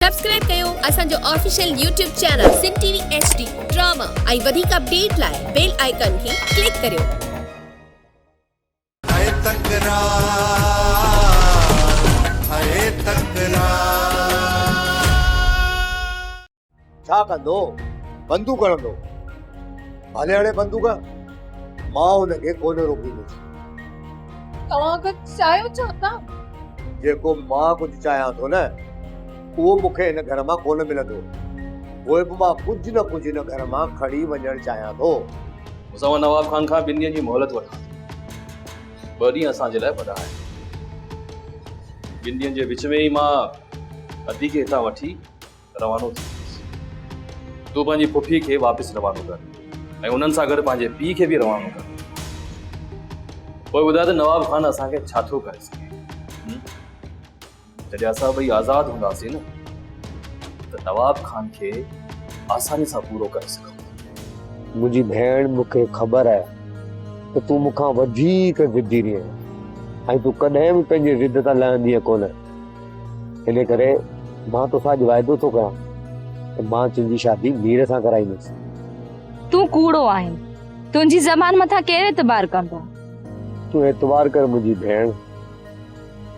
Subscribe ڪيو اسان جو official YouTube channel Sindh T V H D drama ۽ وڌيڪ اپڊيٽ لاء بيل آئيڪان کي ڪلڪ ڪريو. ھئي تڪرار ھئي تڪرار. ڇا ڪندو؟ بندوق ھڻندو. ڀلي ھڻي بندوق، مان ھن کي ڪونه روڪيندس. توهان ڪجهه چاهيو ڇا ٿا؟ جيڪو مان ڪجهه چاهيان ٿو نه اهو مون کي هن گهر مان ڪونه ملندو. پوء به مان ڪجهه نه ڪجهه هن گهر مان کڻي وڃڻ چاهيان ٿو. اسان مان نواب خان کان ٻن ڏينهن جي مهلت وٺان ٿو. ٻه ڏينهن اسان جي لاء وڏا آهن. ٻن ڏينهن جي وچ ۾ ئي مان ادي کي هتان وٺي روانو ٿي ويس. تون پنهنجي پڦي کي واپس روانو ڪر ۽ انهن سان گڏ پنهنجي پيء کي به روانو ڪر. پوء ٻڌاء ته نواب خان اسان کي ڇا ٿو ڪري سگهي. جڏهن اسان ٻئي آزاد هونداسين نه ته نواب خان کي آساني سان پورو ڪري سگهون ٿا. منهنجي ڀيڻ مون کي خبر آهي ته تون مون کان وڌيڪ ضدي رهين ۽ تون ڪڏهن به پنهنجي ضد تان لهندينء ڪونه. انهيء ڪري مان توسان اڄ واعدو ٿو ڪريان ته مان تنهنجي شادي مير سان ڪرائيندس. تون ڪوڙو آهين. تنهنجي زبان مٿان ڪير اعتبار ڪندو؟ تون اعتبار ڪر منهنجي ڀيڻ.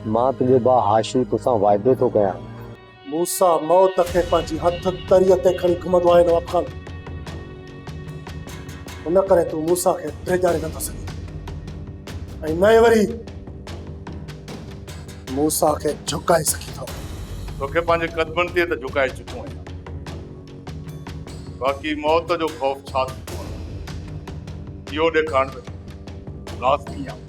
مان تنهنجو ڀاء هاشمي توسان واعدو ٿو ڪريان. موسيٰ موت کي پنهنجي هٿن تريء تي کڻي گهمندو آهي نواب خان. ان ڪري تون موسيٰ کي ڊيڄاري نٿو سگهين ۽ نه ئي وري موسيٰ کي جهڪائي سگهين ٿو. توکي پنهنجي قدمن تي ته جهڪائي چڪو آهيان، باقي موت جو خوف ڇا ٿيندو آهي، اهو ڏيکارڻ ته ٿو. لاز ڪيئن آهي؟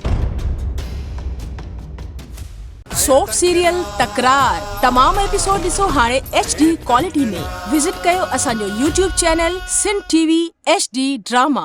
سوپ سيريل تڪرار تمام ايپيسوڊ ڏسو هاڻي ايڇ ڊي ڪوالٽي ۾ وزٽ ڪيو اسان جو YouTube channel Sindh T V H D drama.